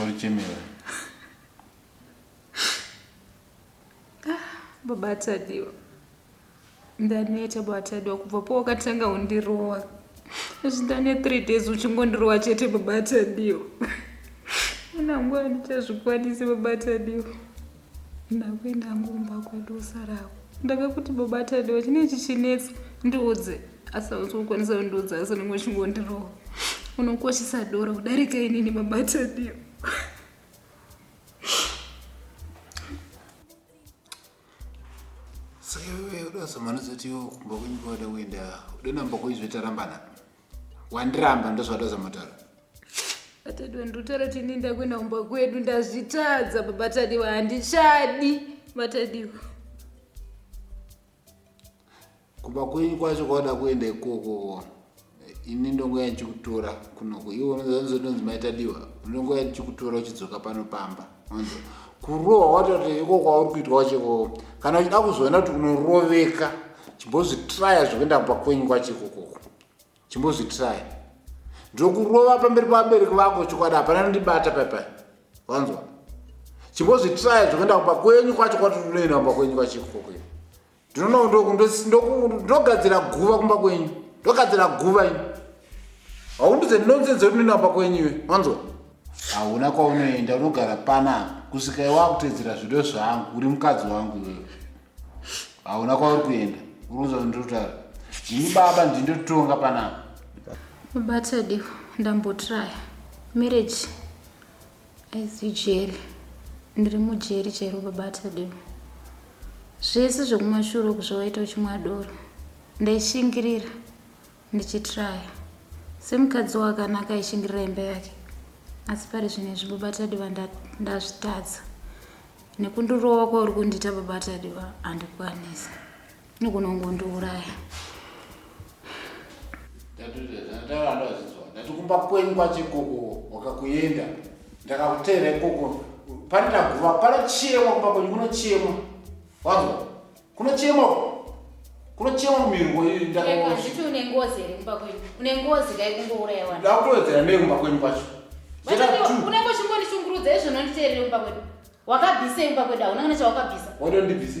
Warichemera. Baba Tadiwa. Ndaneta baba Tadiwa kubva pawakatanga undirowa. Izvi ndane 3 days uchingondirowa chete baba Tadiwa. Una nguva ndichazvikwanisi baba Tadiwa. Ndakuenda ngomba kwedu usarako. Ndakakuti baba Tadiwa chine chichinetsa ndiudze. asi hausi kukwanisa kundiudza asi unenge uchingondirohwa unokoshesa dora kudarika inini mabataniyo samanozatiwo kumba kwenyu kwada kuenda udonamba kuizvetarambana wandiramba ndozvada zamataura atadwa ndotara tini ndakuenda kumba kwedu ndazvitadza babatadiwa handichadi batadiwa kumba kwenyu kwacho kwauda kuenda ikoko ini ndongo yandichikutora kunoko iwe unozotonzi maitadiwa ndongo yandichikutora uchidzoka pano pamba onzo kurohwa watati ikoko kwauri kuitwa wachekoko kana uchida kuzoona kuti unoroveka chimbozvitraya zvekuenda kumba kwenyu kwacho ikokoko chimbozvitraya ndokurova pamberi pavabereki vako chokwadi hapana nondibata paipai wanzwa chimbozvitraya zvekuenda kumba kwenyu kwacho kwati unoenda kumba kwenyu kwacho ikokoko ndinogadzira guva kumba kwenyu ndogadzira guva ini haundidze ndinonze dzekuti ndinamba kwenyu iwe wanzwa hauna kwaunoenda unogara panapa kusvika iwa kutedzera zvido zvangu uri mukadzi wangu iwewe hauna kwauri kuenda uruza ndotara ini baba ndindotonga panapa babatadiwa ndambotraya marriage As usual, ndiri mujeri chero baba Tadeu. Zvese zvekumashure uku zvawaita uchimwa doro ndaishingirira ndichitraya semukadzi wakanaka aishingirira imba yake asi pari zvino izvi baba Tadiwa nda- ndazvitadza nekundirova kwauri kundiita baba Tadiwa handikwanisi Nogona kungondiuraya. Ndati kumba kwenyu kwache koko wakakuenda ndakakuteera ikoko pane ndaguva panochemwa kumba kwenyu kunochemwa wanzwa kunochemwa kunochemwa mumirwo iyi ndakazviti une ngozi here kumba kwenyu une ngozi kai kungouraya vanhu ndakutowedzera nei kumba kwenyu kwacho unenge uchingondishungurudza izvo unonditeerere kumba kwenyu wakabvisa kumba kwenyu hauna kana chawakabvisa wadondibvise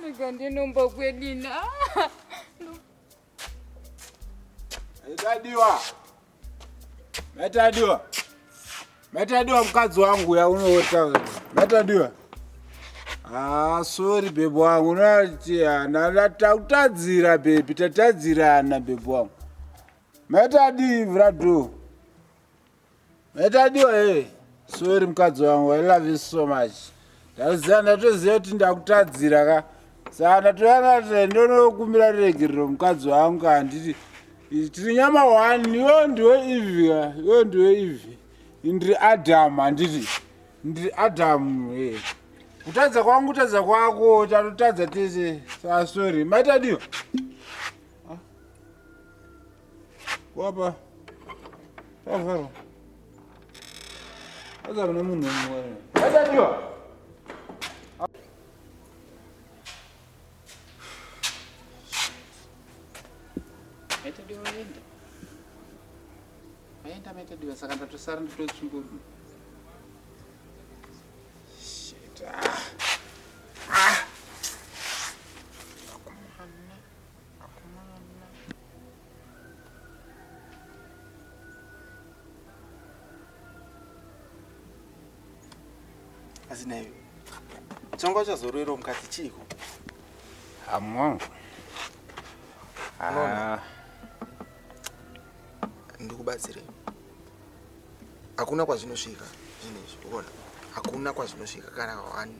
Ndega ndinomba kwedina. Maitadiwa. Maitadiwa. Maitadiwa mukadzi wangu yaunoota wewe. Maitadiwa. Ah, sorry bebe wangu. Unati ana tatadzira bebe, tatadzirana bebe wangu. Maitadi vrado. Metadiwa hey. Sorry mukadzi wangu, I love you so much. Ndaziva ndatoziva kuti ndakutadzira ka. Saka ndatoyana kuti ndonokumbira regerero mukadzi wangu ka handiti tiri nyama one, iwe ndiwe Eve ka, iwe ndiwe Eve. Ndiri Adam handiti. Ndiri Adam hey. Kutadza kwangu kutadza kwako, tatotadza tese. Saka sorry. Metadiwa. Wapa. Pavharwa. Aza kuna munhu mumwe. Aza ndiwa. tadiwa saka ndatosara nditotsunguruma asi nayo chongo chazorwero mukati chiiko amongo ah. ndikubatsirei hakuna kwazvinosvika zvinhu izvi uona hakuna kwazvinosvika kana one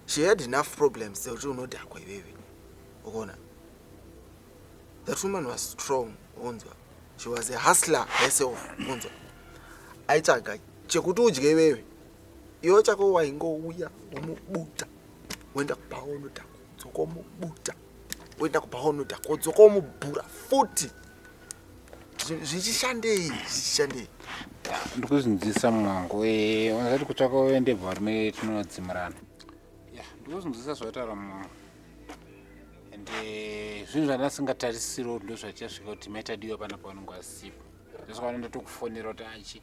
she had enough problems dzekuti unodhakwa iwewe ukaona that woman was strong unzwa she was a hustler herself unzwa aitsvaga chekuti udye iwewe iwo chako waingouya womubuta woenda kuba wonoda kudzoka womubuta woenda kuba wonoda kudzoka womubhura futi zvichishandei zvichishandei ndikuzvinzisa mwangu eh, unozati kutsvaka uende bvarume tinodzimurana ya ndikuzvinzwisa zvataura mumwe and eh, zvinhu zvandasingatarisiro ndo zvachasvika kuti maitadiwa pana pavanenge vasipo ndosvakaona ndatokufonera kuti achi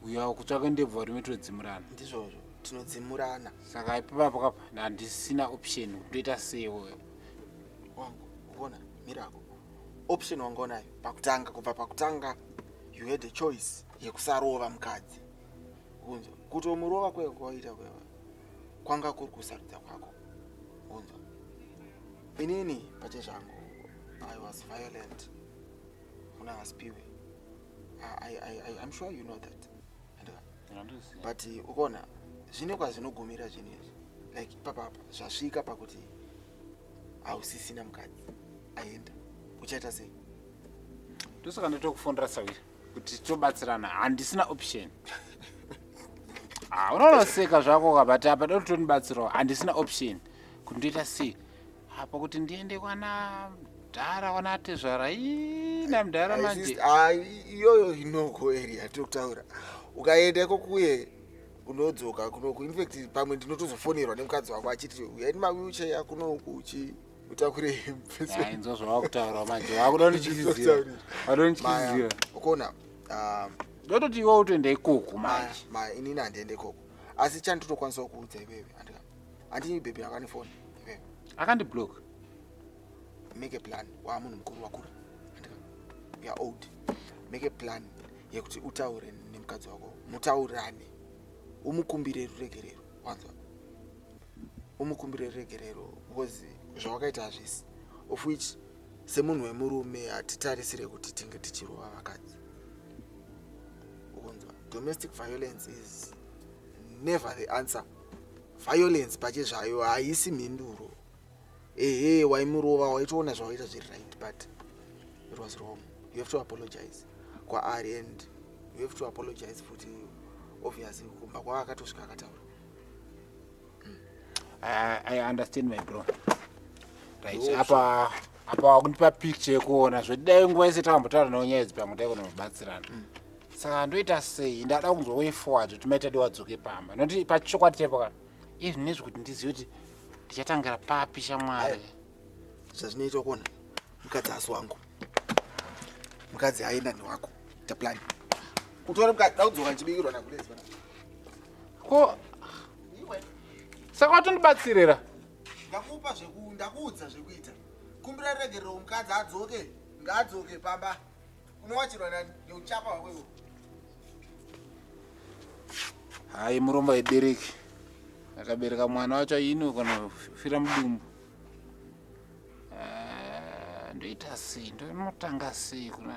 uyawo kutsvaka ndebvu vari metodzimurana ndizvozvo tinodzimurana saka ipapo kapa handisina option kutoita seiwo wangu uona mirako option wanga unayo pakutanga kubva pakutanga you had a choice yekusarova mukadzi unzwa kutomurova kwaiva kwawaita kwaiva kwanga kuri kusarudza kwako unzwa inini pache zvangu i was violent kuna hasipiwe im sure you know that but ukona zvine kwazvinogumira zvinhu izvi like ipapapa zvasvika pakuti hausisina mukadzi aenda uchaita sei ndosaka ndatokufondira sawira kuti tobatsirana handisina option ah, unonoseka zvako kabati apa doti tonibatsirawo handisina option kuti ndoita sei apa kuti ndiende kwana mdhara kwana atezvara ina mdhara manje ah, iyoyo inoko eri yatokutaura ukaenda ikoko uye unodzoka kunoku infact pamwe ndinotozofonerwa nemukadzi wako achiti uyaini mawheelchair kunoku uchi utakure inzwa zvawakutaura manje wakuda kundityisidzira wakuda kundityisidzira ukuona um, ndototi iwe utoenda ikoko manje maya inini handiende ikoko asi chani totokwanisawo kuudza iwewe handinyi bhebhi akane foni iwewe akandiblock make a plan waamunhu mukuru wakura you're old make a plan yekuti utaure nemukadzi wako mutaurane umukumbire ruregerero wanzwa umukumbire ruregerero because zvawakaita hazvisi of which semunhu wemurume hatitarisire kuti tinge tichirova vakadzi ukunzwa domestic violence is never the answer violence pache zvayo haisi mhinduro ehe waimurova waitoona zvawaita zviri right but it was wrong you have to apologize kwaari and you have to apologize futi obviously kumba kwaakatosvika akataura I, I understand my bro. Right. Oops. Apa apa wakundipa picture yekuona zvedai nguva yese takambotaura nawo nyaya idzi pamwe dai kunobatsirana. Mm. Saka ndoita sei ndada kunzwa way forward kuti maita diwa dzoke pamba. Noti pachokwadi chaipo kana izvi nezvi kuti ndizive kuti ndichatangira papi shamwari. Zvazvinoita kuona mukadzi asi wangu. Mukadzi aenda ni wako. Ta plan. Kutora mukadzi dai kudzoka chibikirwa na kulezi. ko saka watondibatsirira ndakupa zveku ndakuudza zvekuita kumbira regerero mukadzi adzoke ngaadzoke pamba unowachirwa nani neuchapa hwako iwo hayi murombo aibereki akabereka mwana wacho aino kana fira mudumbu Ah, ndoita sei ndonotanga sei kuna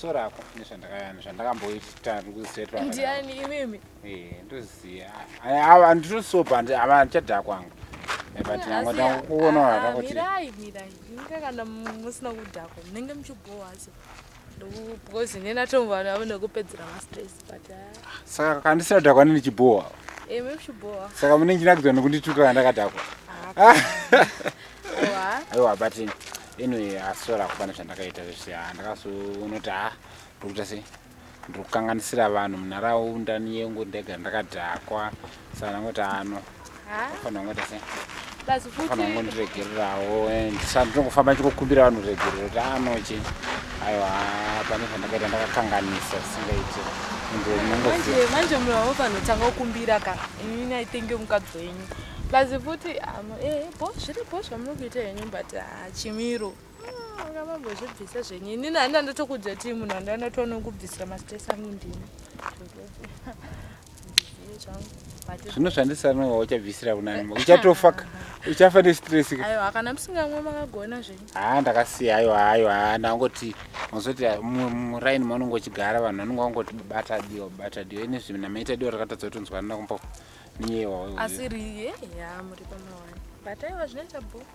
so rako nezvandakayana zvandakamboita kusetwa ndiani imimi eh ndoziya ava ndinosopa ava ndichadhaa kwangu eh, but nango ndakuona hata kuti mirai mirai inga kana musina kudhakwa munenge muchibhowa so because neni atombo vanhu avo nekupedzera mastress saka kandisina dhakwa nini chibhowa eh, saka mune ndinakidzwa nekundituka kandakadhakwa aiwa but anyway asora kupana zvandakaita zvese ah, ndakazonoti ha ah, ndokuita sei ndiri kukanganisira vanhu munharaunda niyengu ndega ndakadhakwa Sana ngoti ano. Ha? Fana ngoti se. Basi futi. Fana ngoti regererawo and sana ndokufamba chikukumbira vanhu regerero kuti ano chi. Aiwa pane zvandakaita ndakakanganisa singaiti. Manje manje mlavo vanotanga kukumbira ka. Ini I think mukadzi wenyu. Basi futi amo eh bo zviri bo zvamuri kuita henyu but ah, chimiro. Ngavambozvibvisa ah, zvenyu. Ini nanda ndotokudza timu nanda ndatoona kubvisa mastress angu ndini. zvino zvandisanowa uchabvisira kunani uchatofa uchafa nestress haa ndakasiya ayo ayo haa ndangoti mazoti muraini maunenge uchigara vanhu vanenge vangoti bata dio bata dio ini zvimina maita dio rakatadza kutonzwa nda kumbo niyewa asi riye ya muri pamawani bataiwa zvinoita bhuku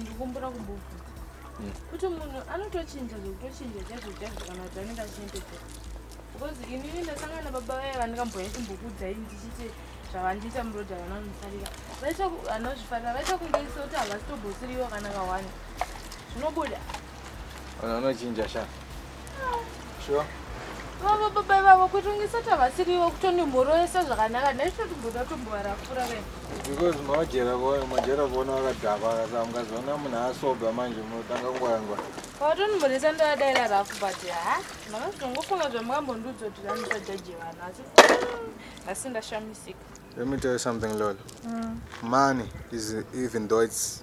ndikumbura kubufu hmm. kuti munhu anotochinja zvekutochinja chazvochazo kana kuti anenge achiendeka because inini ndasangana baba vaye vandikamboya chimbokudzai ndichiti zvavandiita muroad havana kunifarira vanozvifarira vaita kunge iso kuti havasitobhosiriwo kana kawani zvinobuda Vanhu vanochinja sha. Sure. Vava baba vavo kuti ungisati havasiriwo kutondimhoroesa zvakanaka ndaitotimboda tombovarafura ve. Because mawajera kuona majera kuona vakadhakwa akasa mukazoona munhu asoba manje munotanga kungwangwa. Watonimhoresa ndovadaira rafu but ha makazongofunga zvamukambondiudza kuti vanisa jaji vanhu asi asi ndashamisika. Let me tell you something Lolo. Mm. Money is even though it's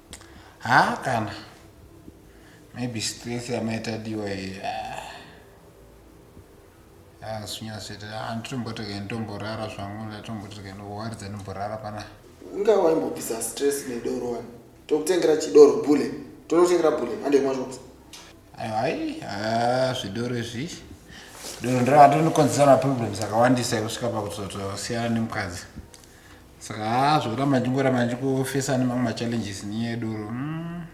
haa kana maybe stress yamaitadiwa zvinyazvoita ah, ah, anditombotoke nditomborara zvangu ndatombotoke ndowaridza ndimborara pana inga waimbobvisa stress nedoro wani tokutengera chidoro bule tonotengera bule andemwazvokuti ayo hai ah, zvidoro izvi doro ndiravatinokonzesana problems akawandisa yekusvika pakuzotosiyana nemukadzi saka haa zvokuramba ndichingoramba ndichikufesa nemamwe machallenges nyaya yedoro hmm.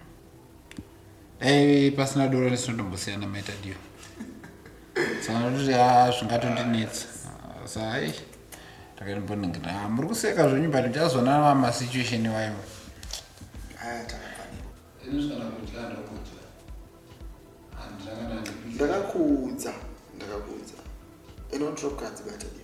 dai pasina doro nesinotombosiyana maita dio saka ndototi haa zvingatondinetsa sa hai ndakaimboningina ah, muri kuseka zvenyu but ndichazona mamasituation iwayo ndakakuudza ndakakuudza inotrokadzi bata dio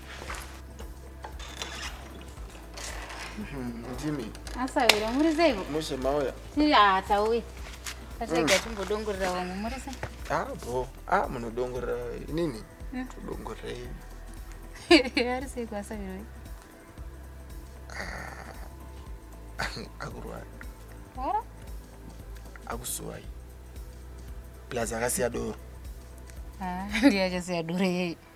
ndimi asawira muri seiko mushe mauya tiri hatauyi atirega mm. timbodongorera vamwe muri se a ah, bo a ah, munodongorera inini mm. todongorerei ari seiko asawiroi ah, akurwara akusuwai plus akasiya doro ndiachasiya doro yeye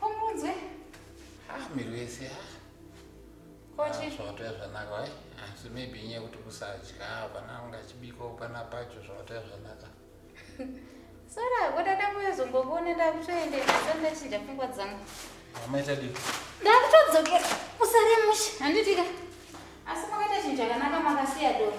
Komunzwe. Ah, miri wese ha. Kochi. Zvawatoya zvanaka wai. Asi maybe nyaya kuti kusadya hapana ungachibika upana pacho zvawatoya zvanaka. Sora, wada dangu yozombokuona ndakutoende naso ndachinja pfungwa dzangu. Amaita dii? Ndakutodzokera. Usare mushe. Handitika. Asi makaita chinhu chakanaka makasiya doro.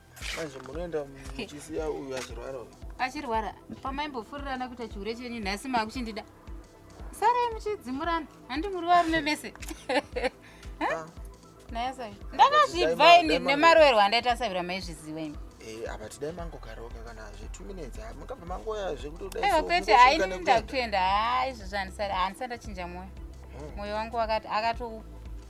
Manje munoenda muchisiya uyu achirwara uyu. Achirwara. Pamaimbofurirana kuita chihure chenyu nhasi makuchindida. Sarai muchidzimurana. Handi muri varume mese. Ah. Naye sai. Ndakazvibva ini nemaroero andaita savira maizviziva ini. Eh, apa tidai mangogaroka kana zve 2 minutes ah, mukabva mangoya zvekuti udai. Eh, kwete haini ndakuenda. Ah, izvi zvanisara. Hanisanda chinja moyo. Hmm. Moyo wangu akati akatokupa